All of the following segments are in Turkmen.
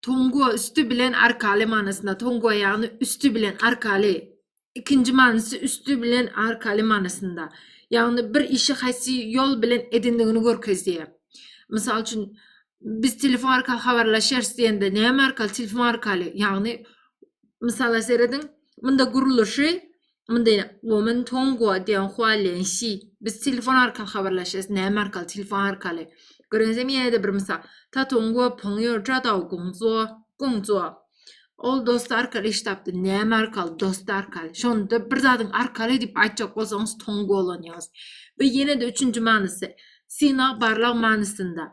Tongo üsti bilen arkaly manysynda. Tongo ýagny üsti bilen arkaly. Ikinji manysy üsti bilen arkaly manysynda. Ýagny bir işi haýsy ýol bilen edindigini görkezýär. Mysal üçin, biz telefon arkaly habarlaşýarys diýende näme arkaly? Telefon arkaly. Ýagny, mysala serediň, munda gurluşy Indi women tongo diýen hualian şi. Biz telefon arkaly habarlaşýas. Näme arkaly? Telefon arkaly. Görüňizem ýene-de bir mysal. Ta tongo pongyo ja dao gongzuo, gongzuo. Ol dost arkaly iş tapdy. Näme arkaly? Dost arkaly. Şonda bir zadyň arkaly diýip aýtjak bolsaňyz tongo ulanýarys. We ýene-de üçünji manysy synag, barlag manysynda.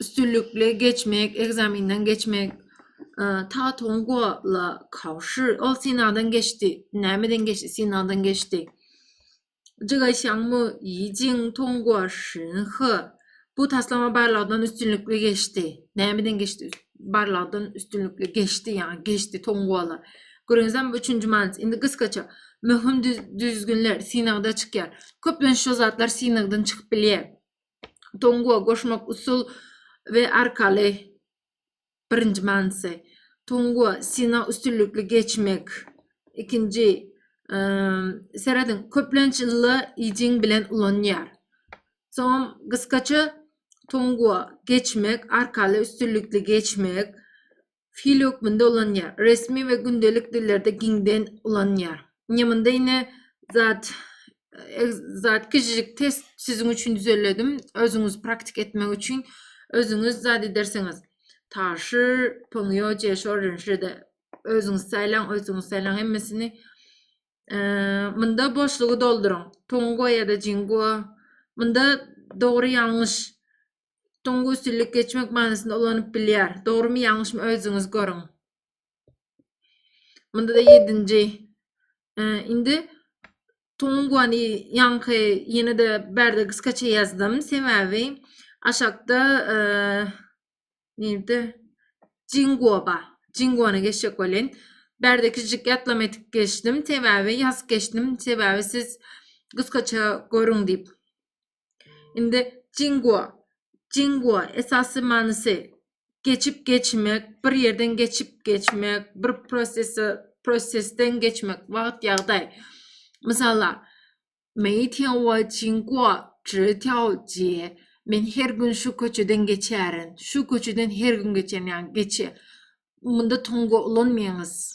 üstünlikli geçmek, ekzamenden geçmek, ta Tongwala kawşy, ol synagdan geçdi, nämeden geçdi, synagdan geçdi. Jigaýşaňmy, Ýijin Tongwa Şinhe, bu taslama barlagdan üstünlikli geçdi. Nämeden geçdi? Barlagdan üstünlikli geçdi, ýaňy geçdi Tongwala. Görüňizem, üçünji manyç, indi gysgaça, möhüm düzgünler synagda çykýar. Köplenç şu zatlar synagdan çykyp bilýär. Tonguo goşmak usul we arkaly birinji manysy. Tonguo sina üstünlikli geçmek. Ikinji serediň köplenç illa ijing bilen ulanýar. Soň gysgaça Tonguo geçmek, arkaly üstünlikli geçmek. Hil hökmünde ulanýar. Resmi we gündelik dillerde giňden ulanýar. Ine munda ine zat zat kiçijik test siziň üçin düzelledim. Özüňiz praktik etmek üçin özüňiz zat edersiňiz. Taşy, pöňýo, jeşo, rinşede özüňiz saýlaň, özüňiz saýlaň hemmesini. Munda boşlugy dolduryň. Tongo ýa-da jingo. Munda dogry ýalňyş Tuňgusillik geçmek manysynda ulanyp bilýär. Dogrymy ýalňyşmy özüňiz görüň. Munda da ýedinji. Indi Tunguany ýaňky ýene-de bärde gysgaça ýazdym. Sebäbi aşakda nirde Jinguoba. Jinguony geçjek welin. Bärde kiçijik ýatlama etip geçdim. Sebäbi ýazyp geçdim. Sebäbi siz gysgaça görüň diýip. Indi Jingua. Jingua esasy manysy geçip geçmek, bir ýerden geçip geçmek, bir prosesi prosesden geçmek, wagt ýagdaý. Mysala, Men her gün şu köçeden geçerin. Şu köçeden her gün geçerin, ýagny geçe. Munda tonga ulanmaýyňyz.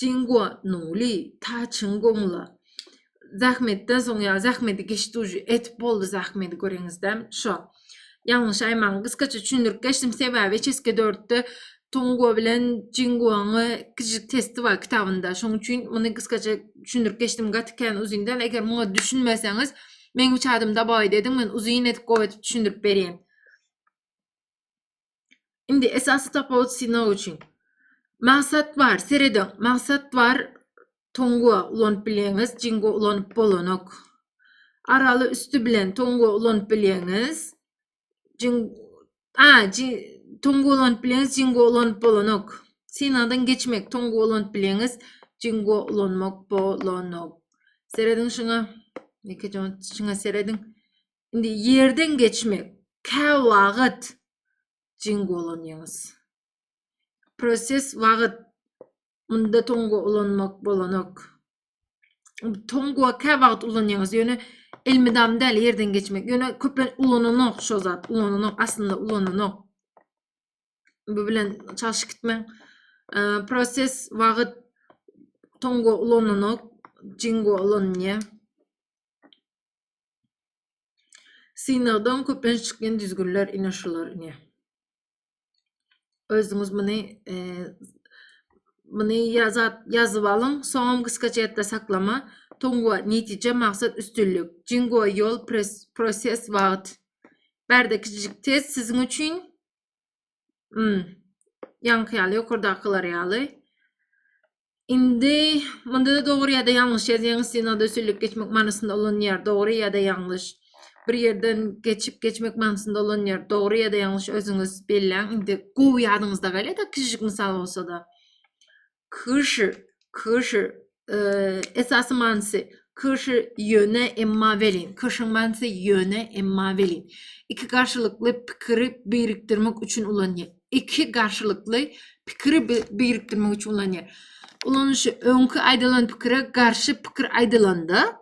Jingo Nuli, Taçyň goňla. Zähmetden soň ýa zähmeti geç duji etip boldy zähmeti göreňizdem şo. Ýalňyş aýmaň gysgaça çüýnürip geçdim sebäbi çeske dörtde Tongo bilen Jingoň kiçijik testi bar kitabynda şoň üçin muny gysgaça çüýnürip geçdim gaty kän uzyn däl eger muňa düşünmeseňiz meň üç adym dabagy dediň men uzyn edip gowy edip düşündirip berýän. Indi esasy tapawut synag üçin. Maksat bar, serediň. Maksat bar. Tongo ulanyp bilýäňiz, jingo ulanyp bolanok. Araly üsti bilen tongo ulanyp bilýäňiz. Jing a, tongo ulanyp bilýäňiz, jingo ulanyp bolanok. Synagdan geçmek, tongo ulanyp bilýäňiz, jingo ulanmak bolanok. Serediň şuňa. Ýekeje şuňa serediň. Indi ýerden geçmek käwagt jin golanýyňyz. Proses wagt munda tonga ulanmak bolanok. Tonga käwagt ulanýyňyz ýöne elmydam däl ýerden geçmek. Ýöne köplen ulananok şo zat ulananok aslynda ulananok. Bu bilen çalşyk gitmäň. Proses wagt tonga ulananok jingo ulanýa. Synagdan köplenç çykýan düzgünler ine şular ine. Özüňiz muny e, muny ýazat ýazyp alyň, soňam gysga çetde saklama. Tongwa netije maksat üstünlik. Jingwa ýol proses wagt. Bärde kiçijik test siziň üçin. Hmm. Ýaňky ýaly, ýokardakylar ýaly. Indi munda-da dogry ýa-da ýalňyş ýazýaň, stenoda süllüp geçmek manysynda ulanýar, dogry ýa-da ýalňyş. Bir ýerden geçip geçmek manysynda ulanýar, dogry ýa-da ýalňyş özüňiz belläň. Indi gowy ýadyňyzda galýar-da, kiçijik mysal bolsa-da. Kyşy, kyşy, esasy manysy kyşy ýöne emma welin. Kyşyň manysy ýöne emma welin. Iki garşylykly pikiri birikdirmek üçin ulanýar. Iki garşylykly pikiri birikdirmek üçin ulanýar. Ulanyşy öňki aýdylan pikire garşy pikir aýdylanda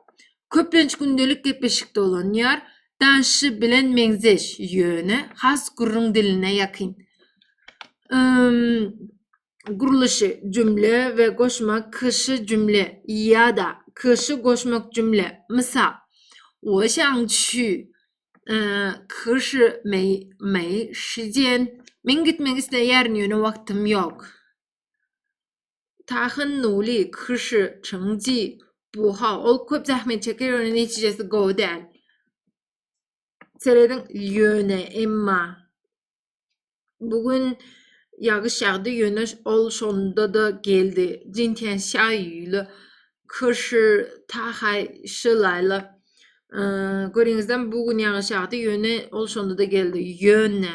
köplenç gündelik gepleşikde ulanýar. Danşy bilen meňzeş, ýöne has gürrüň diline ýakyn. gurluşy, jümle we goşma kyşy jümle ýa-da kyşy goşmak jümle, mysal, 我想去 kyşy mei mei şijen, men gitmek isleýärin, ýöne wagtym ýok. Tahan nuli kyşy çyňji, bu ha, ol köp zähmet çeker, ýöne netijesi gowy däl. Serediň, ýöne, emma, Bu gün ýagyş ýagdy, ýöne ol şonda-da geldi. Jintian Şaýýuýly, Kyrşy Tahaý Şylaýly. Görýäňizmi, bu gün ýagyş ýagdy, ýöne ol şonda-da geldi. Ýöne.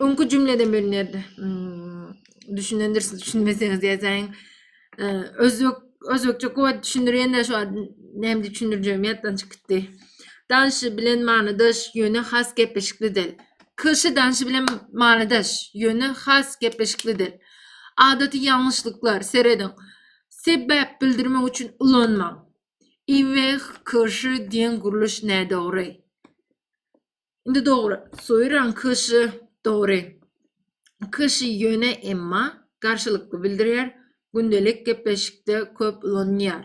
Öňki jümleden bölünerdi. Hmm, düşünendirsiz, düşünmeseňiz ýazaýyň. Ee, özbek özbekçe köp düşündirýän-de şu näme düşündirjegim ýatdan çykyp gitdi. Danşy bilen manydaş, ýöne has gepleşikli dil. Kişi danşy bilen manydaş, ýöne has gepleşikli dil. Adaty ýalňyşlyklar serediň. Sebäp bildirmek üçin ulanmaň. Iweh kişi diýen gurluş nädogry. Indi dogry. Soýran kyşy dogry. Kyşy ýöne emma garşylykly bildirýär. Gündelik gepleşikde köp ulanylýar.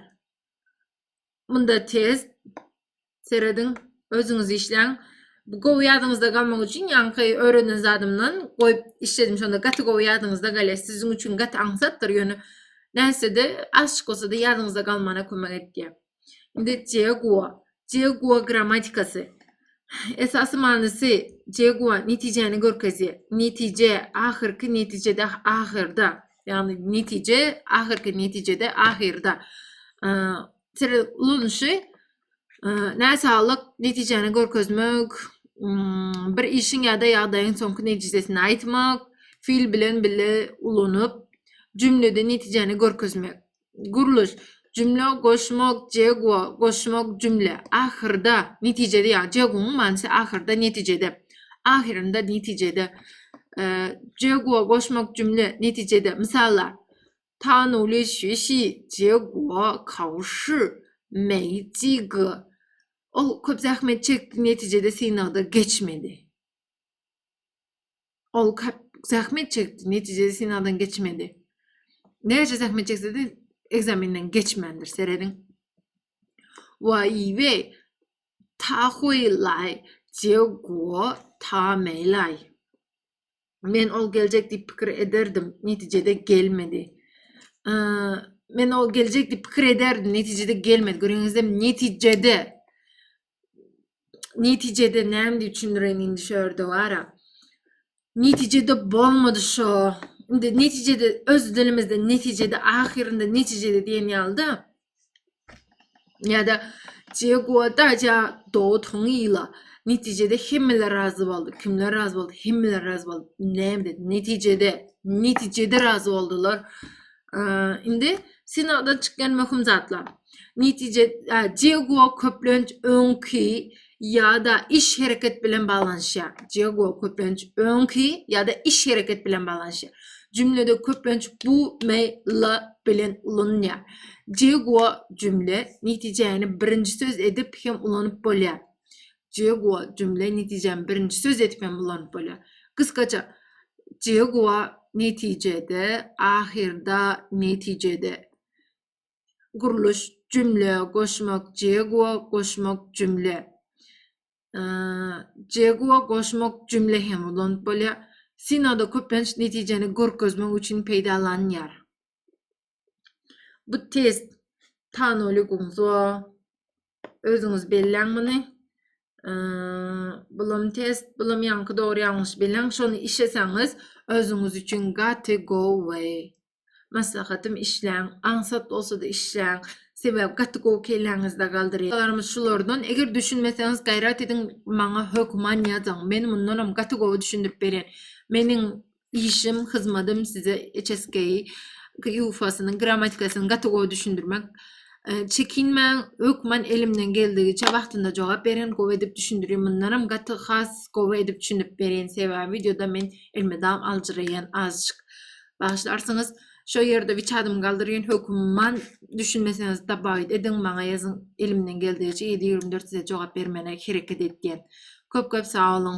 Munda test serediň, özüňiz işläň. Bu gowy ýadyňyzda galmak üçin ýaňky öwrenen zadymdan goýup işledim. Şonda gaty gowy ýadyňyzda galýar. Siziň üçin gaty aňsatdyr, ýöne nätse-de azçyk bolsa-da ýadyňyzda galmana kömek edýär. Indi Jegua. Jegua grammatikasy. Esasy manysy Jegua netijäni görkezýär. Netije ahyrky netijede ahyrda. Ýagny netije ahyrky netijede ahyrda. Tere ulanyşy näsaglyk netijäni görkezmek, bir işiň ýa-da ýagdaýyň soňky netijesini aýtmak, fil bilen bile ulanyp, jümlede netijäni görkezmek. Gurluş, Jümle goşmak Jegwo, goşmak jümle. Ahyrda, netijede ýa Jegwonyň manysy ahyrda, netijede. Ahyrynda, netijede. Jegwo goşmak jümle, netijede. Mysallar, Tanu li şi şi, Jegwo kao shi mei ji ge. Ol köp zähmet çekdi, netijede synagda geçmedi. Ol köp zähmet çekdi, netijede synagdan geçmedi. Näçe zähmet çekse-de ekzamenden geçmändir, serediň. Waýbe, ta huýlaý, jewgo, ta meýlaý. Men ol geljek diýip pikir ederdim, netijede gelmedi. Men ol geljek diýip pikir ederdim, netijede gelmedi. Görýäňizmi, netijede netijede näme diýip düşündireýin indi şu ýerde wara. Netijede bolmady şo. Indi netijede öz dilimizde netijede ahyrynda netijede diýen ýalyda. Ýa-da Jegoda ja dot hon ýyla. Netijede hemmeler razy boldy. Kimler razy boldy? Hemmeler razy boldy. Näme Netijede, netijede razy boldular. Indi synagdan çykýan möhüm zatlar. Netije Diego köplenç öňki ýa-da iş hereket bilen baglanyşýar. Diego köplenç öňki ýa-da iş hereket bilen baglanyşýar. Jümlede köplenç bu me la bilen ulanylýar. Diego jümle netijäni birinji söz edip hem ulanyp bolýar. Jegua jümle netijäni birinji söz edip hem ulanyp bolýar. Gysgaça, Jegua netijede, ahyrda, netijede. Gurluş, jümle, goşmak, Jegua, goşmak, jümle. Jegua, goşmak, jümle hem ulanyp bolýar. Synagda köplenç netijäni görkezmek üçin peýdalanýar. Bu test tanoliguňzo özüňiz belläň muny. Bulam test, bulam ýaňky dogry ýalňyş belläň. Şony işeseňiz özüňiz üçin gaty go way. Maslahatym işläň, aňsat bolsa-da işläň. Sebäbi gaty gowy kelläňizde galdyryp. Solarymyz şulardan. Eger düşünmeseňiz gaýrat ediň maňa hökman ýazyň. Men mundanam gaty gowy düşündirip berýän. Meniň Işim, hyzmadym size HSKI ýufasynyň grammatikasyny gaty gowy düşündirmek. Çekinmäň, hökman elimden geldigiçe wagtynda jogap berin, gowy edip düşündirin. Mundanam gaty has gowy edip düşündirip berin, sebäbi wideoda men elmydam aljyraýan azjyk. Bagyşlarsyňyz, şo ýerde wiçadymy galdyryn, hökman düşünmeseňiz dabagyt ediň, maňa ýazyň, elimden geldigiçe ýedi ýügrüm dört size jogap bermäne hereket edýän. Köp-köp sag boluň!